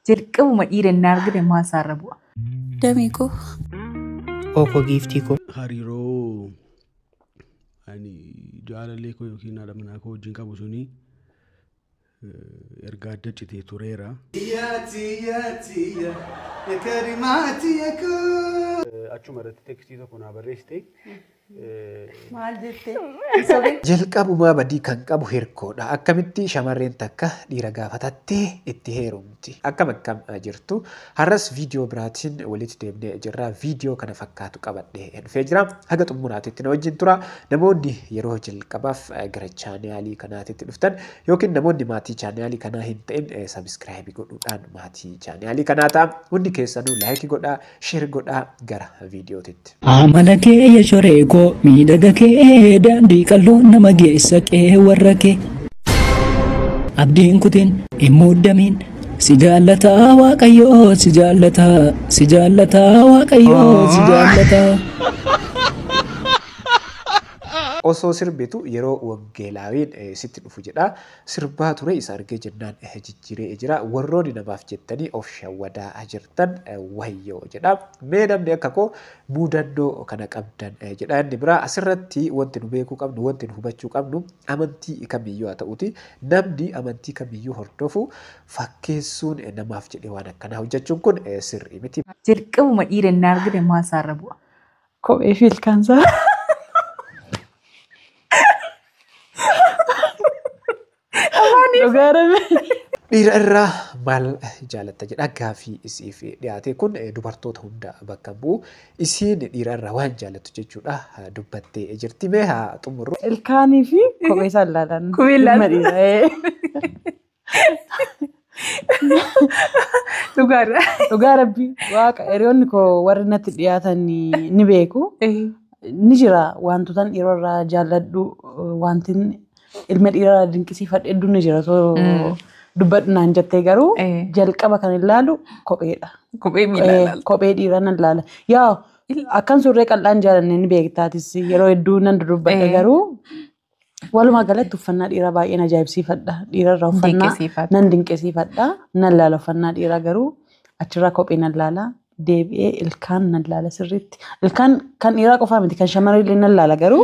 Jalqabuma dhiira inni argite maal isaarra bu'a? Damee koo. Ookoo giiftii koo. hariiroo ani jaalallee koo yookiin haadha manaa koo wajjin qabu suni eh, erga adda citee tureera. Achuma irratti tekstii tokko naa barreessite. Maal jettee? Hin sobin. Jalqabumaa badii kan qabu hirkoodha. Akkamitti shamarreen takka dhiira gaafatattee itti heerumti? Akkam akkam jirtu? Har'as viidiyoo biraatiin walitti deebinee jirra. Viidiyoo kana fakkaatu qabadhee dhufee jira. Haga xumuraatitti na wajjin tura. Namoonni yeroo jalqabaaf gara chaanaalii kanaatitti dhuftan yookiin namoonni maatii chaanaalii kanaa hin ta'in sabiskiraayibii godhuudhaan maatii chaanaalii kanaa ta'a. Hundi keessanuu laayikii godhaa. Share godhaa gara viidiyootitti. Amala kee ya shoree koo miidhaga kee daandii qalloo nama geessa qee warra kee. Abdiin kutiin hin muddamiin si jaallataa waaqayyoo si jaallataa si jaallataa waaqayyoo si jaallataa. Osoo sirbitu yeroo waggeelaawiin eh, sitti dhufu jedha. sirbaa ture isa argee jennaan jijjiiree jira warrooni namaaf jettanii of shawwadaa jirtan wayyoo jedha mee namni akka koo muudannoo kana qabdan jedha inni biraa asirratti wanti nu beekuu qabnu wanti nu hubachuu qabnu amantii kamiyyuu haa ta'uti namni amantii kamiyyuu hordofu fakkeessuun namaaf jedhee waan akkanaa hojjechuun kun sirrii miti. Jalqabuma dhiira inni argite maal isaarra bu'a? Kophee fi ilkaansaa. Dhugaa rabbi. Dhiira irraa maal jaalatta jedha gaaffii isiif dhiyaate kun eh, dubartoota hunda bakka hin bu'u. Isiin dhiira irraa waan jaalattu jechuudha eh, dubbattee jirti. Mee haa xumurru. Ilkaanii fi kophee isaa ilaalan. Kophee ilaalan. Dhimma dhiiraa, ee. Dhugaadha. Dhugaa rabbii waaqa hiriyoonni koo warri natti dhiyaatan ni beeku. Ni jira wantoota dhiiroo irraa jaalladhu wanti ilma dhiiraa irraa dinqisiifadhu hedduun ni jira osoo dubbadhu naan jettee garuu Eh. jalqaba kan ilaalu kopheedha. Kophee miila Eh, ilaalta. Kophee dhiiraa nan ilaala. Yaa akkan surree qal'aan jaalanne ni beektaatis yeroo hedduu nan dudubbadha Eh. garuu Walumaa galatti uffannaa dhiiraa baay'een ajaa'ibsiifadha. Dhiira irraa uffannaa Dinqisiifadha. nan dinqisiifadha. Nan laala uffannaa dhiiraa garuu achirraa kophee nan laala. Deebi'ee ilkaan nan laala sirriitti. Ilkaan kan dhiiraa qofaa miti kan shamarree illee nan laala garuu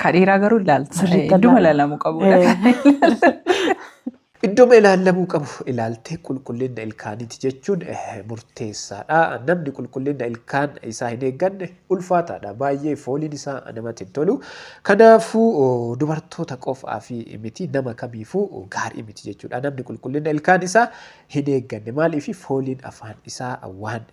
Ka dhiiraa garuu ilaalta. Sirriitti Idduma ilaala. ilaalamuu qabudha. Eh. Iddoma ilaallamuu qabu ilaaltee qulqullinna ilkaaniiti jechuun murteessaadha. Namni qulqullinna ilkaan isaa hin eegganne ulfaataadha. Baay'ee fooliin isaa namatti hin tolu. Kanaafuu dubartoota qofaaf miti nama kamiifuu gaarii miti jechuudha. Namni qulqullinna ilkaan isaa hin eegganne maaliif fooliin afaan isaa waan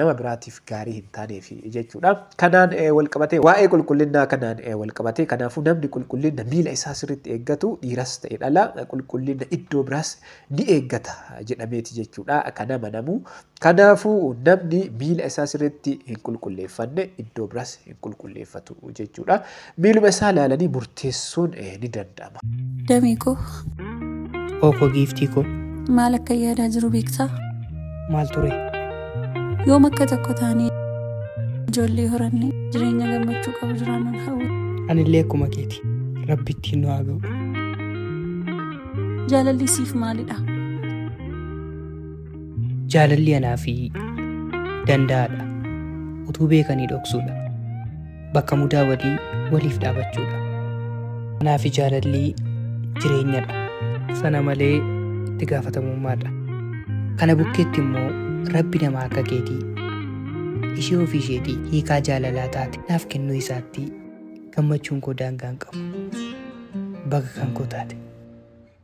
nama biraatiif gaarii hin taaneef jechuudha. Kanaan walqabatee waa'ee qulqullinnaa kanaan walqabatee kanaafuu namni qulqullinna miila isaa sirriitti eeggatu dhiiras ta'e dhala qulqullinna iddoo biraas ni eeggata jedhameeti jechuudha kan amanamu. Kanaafuu namni miila isaa sirriitti hin qulqulleeffanne iddoo biraas hin qulqulleeffatu jechuudha. Miiluma isaa ilaalanii murteessuun ni danda'ama. Damee koo. Hoo koo giiftii koo. Maal akka yaadaa jiru beektaa? Maal ture? Yoom akka tokko taanee ijoollee horannee jireenya gammachuu qabu jiraannan hawwa. Anillee akkuma keeti. Rabbi ittiin nu haa ga'u. Jaalalli siif maalidha? Jaalalli anaa fi danda'aadha. Utuu beekanii dhoksuudha. bakka mudaa walii waliif dhaabachuudha. Manaa fi jaalalli jireenyadha. Sana malee itti gaafatamummaadha. Kana bukkeetti immoo rabbi nama akka keetii ishee ofii isheetii hiikaa jaalalaa taate naaf kennuu isaatti gammachuun koo daangaa hin qabu. Baga kan koo taate.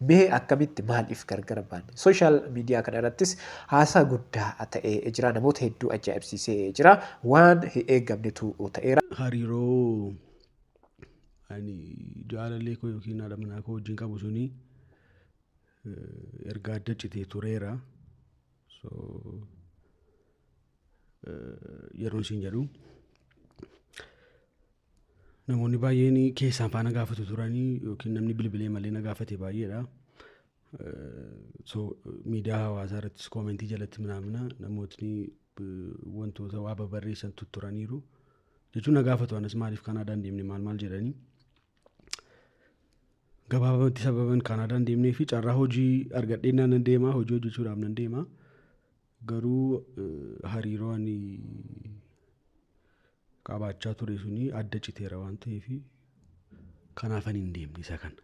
Mee akkamitti maaliif gargar baanne? Social media kana irrattis haasaa guddaa ta'ee jira. Namoota hedduu ajaa'ibsiisee jira. Waan hin eeggamnetu ta'eera. Hariiroo ani jaalallee koo yookiin haadha manaa koo wajjin qabu suni erga adda citee tureera. So yeroon siin jedhu Namoonni baay'een keessaan faana gaafatu turanii yookiin namni bilbilee malee na gaafate baay'eedha. So miidiyaa hawaasaa irrattis koomentii jalatti minaamina namootni wantoota waa babarreessan tutturaniiru. Jechuun na gaafatu anas maaliif Kaanaadaan deemne maal maal jedhanii. Gabaabamatti sababan Kaanaadaan deemnee fi carraa hojii argadhee nan deema hojii hojjechuudhaaf nan deema. Garuu hariiroo ani qabaachaa ture suni adda citeera waan ta'eef kanaaf ani hin deemne isa kana.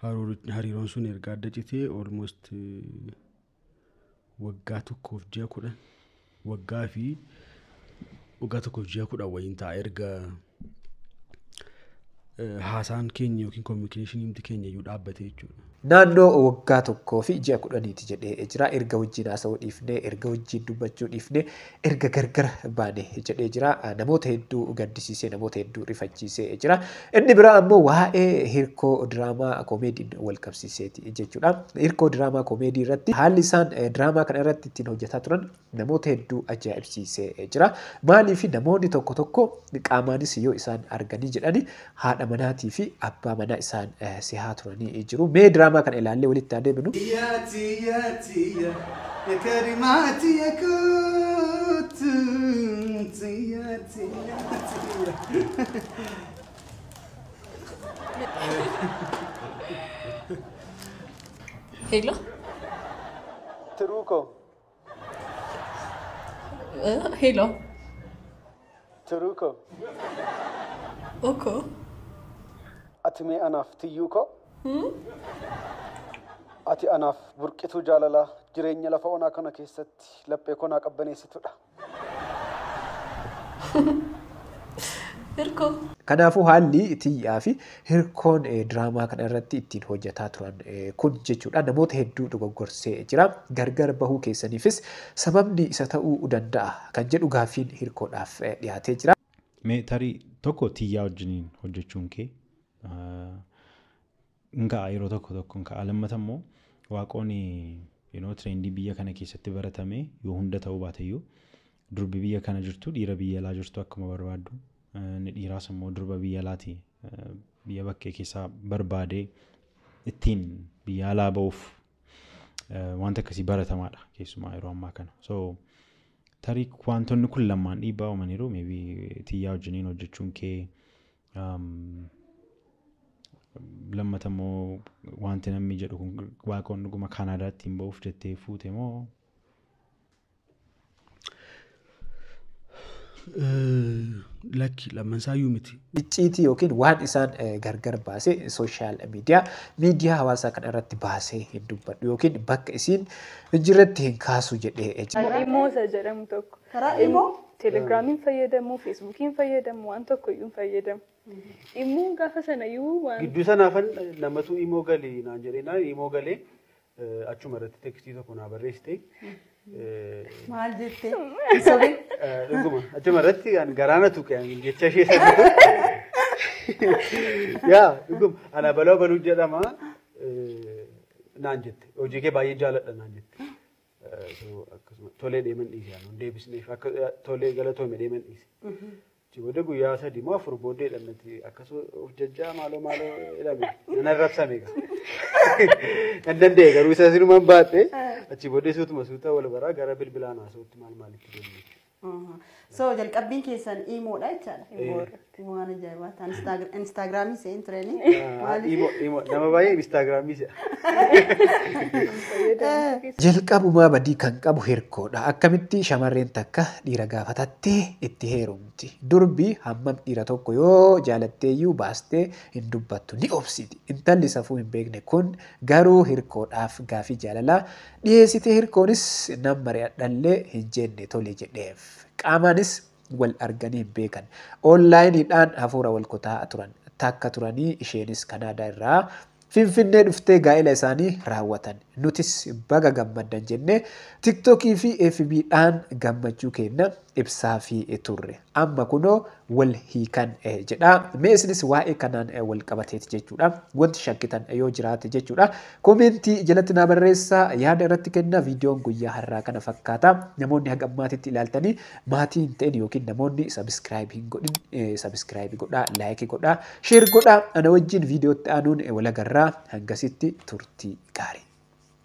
Haruuri- Hariiroon sun erga adda citee almost eh, waggaa tokkoof ji'a kudhan waggaa fi waggaa tokkoof ji'a kudhan wayiin ta'a erga haasaan keenya yookiin kominikeeshiniin keenya iyyuu dhaabbate jechuudha. Naannoo waggaa tokkoo fi ji'a kudhaniiti jedhee jira. Erga wajjin haasa'uu dhiifnee, erga wajjin dubbachuu dhiifnee, erga gargar baane jedhee jira. Namoota hedduu gaddisiisee, namoota hedduu rifachiisee jira. Inni biraa ammoo waa'ee hirkoo diraamaa koomeediin wal qabsiiseeti jechuudha. Hirkoo diraamaa koomeedii irratti haalli isaan diraamaa kana irratti ittiin hojjetaa turan namoota hedduu ajaa'ibsiisee jira. Maaliif namoonni tokko tokko qaamaanis yoo isaan arganii jedhani haadha manaatii fi abbaa manaa isaan sehaa turanii jiru. Mee diraamaa kana ilaallee walitti haa deebinu. Tiya tiya tiya ya karima tiya kutu tiya tiya tiya. Hello. Tiruu koo ሄሎ Turuko, ኦኮ ati mee anaaf tiyyuu koo? Ati anaaf burqituu jaalalaa jireenya lafa onaa kana keessatti laphee koo naa qabbaneessitudha. hirkoo Kanaafuu haalli tiyyaa fi Hirkoon diraamaa kana irratti ittiin hojjetaa turan kun jechuudha namoota hedduu dogoggorsee jira. Gargar bahuu keessaniifis sababni isa ta'uu danda'a kan jedhu gaaffiin hirkoodhaaf dhiyaatee jira. Mee tarii tokko tiyyaa wajjiniin hojjechuun kee hin ka'a yeroo tokko tokko hin ka'a. Lammata immoo waaqoon you know, tireendii biyya kana keessatti baratame yoo hunda ta'uu baateyyuu Durbi biyya kana jirtu dhiira biyya alaa jirtu akkuma barbaaddu inni dhiiraas immoo durba biyya alaati biyya bakkee keessaa barbaadee ittiin biyya alaa ba'uuf wanta akkasii baratamaadha keessumaa yeroo ammaa kana. So tarii wantoonni kun lamaan dhiibbaa uumaniiru maybe tiyyaa wajjiniin hojjechuun kee lammata immoo wanti namni jedhu kun waaqoon dhuguma kaanaadaatti hin ba'uuf jettee fuute moo Lakki lamman isaayyuu miti. Icciitii yookiin waan isaan gargar baase sooshaal miidiyaa miidiyaa hawaasaa kana irratti baasee hin dubbadhu yookiin bakka isiin hin jirretti hin kaasu jedhee Kan imoo isa jedhamu tokko. Karaa imoo? Telegiraamiin fayyadamu, feesbuukiin fayyadamu, waan tokko iyyuu hin fayyadamu. Immoo gaafa sana iyyuu waan. Gidduu sanaafan namatu imoo gali naan jedhee naan imoo galee Achuma irratti tekstii tokko naa barreessite. Maal jettee? Sobe. Dhuguma achuma irratti kan garaana tuqe ani jecha ishee sana. Yaa dhuguma ana baloo baluu jedhama eh, naan jette hojii kee baay'ee jaaladha naan jette. Eh, so, akkasuma tolee deeman dhiise ani deebisneef akka eh, tolee galatoome deeman dhiise. Achi booda guyyaa sadii moo afur booddee dhannati akkas of jajjaa maaloo maaloo jedhame nan arrabsame egaa. Nan danda'e garuu isa sinumaan baadhe achi booddee suutuma suuta wal baraa gara bilbilaan haasa'utti maal maalitti deemne. Aha. So jalqabbiin keessan iimoodha jechaadha. Iimoodha. Waan ajaa'ibaa ta'an Instaag- Instaagiraamii se'een turanii. Imo imo nama baay'ee instaagiraamii se'a. Jalqabumaa badii kan qabu hirkoodha. Akkamitti shamarreen takka dhiira gaafatatti? Tee itti heerumti. Durbi hammam dhiira tokko yoo jaalatteeyyuu baastee hin dubbattu. Ni obsiti. Intalli safuu hin beekne kun garuu hirkoodhaaf gaaffii jaalalaa dhiheessite hirkoonis nan mari'adhallee hin jenne tole jedheef. Qaamaanis wal arganii hin beekan. Oonlaayiniidhaan hafuura wal kutaa'aa turan. Takka turanii isheenis Kanaadaa irraa Finfinnee dhuftee gaa'ila isaanii raawwatan. Nutis baga gammaddan jennee TikTok fi FB dhaan gammachuu keenna ibsaafii turre. Amma kunoo wal hiikan jedha. Mee isinis waa'ee kanaan wal qabateeti jechuudha. Wanti shakkitan yoo jiraate jechuudha. Koomeentii jalatti naa barreessaa yaada irratti kenna. Viidiyoon guyyaa har'aa kana fakkaata. Namoonni haga ammaatitti ilaaltanii Maatii hin ta'in yookiin namoonni subscribe hin godhin subscribe godhaa like godhaa share godhaa ana wajjin viidiyootti aanuun walagarraa hangasitti turtii gaarii.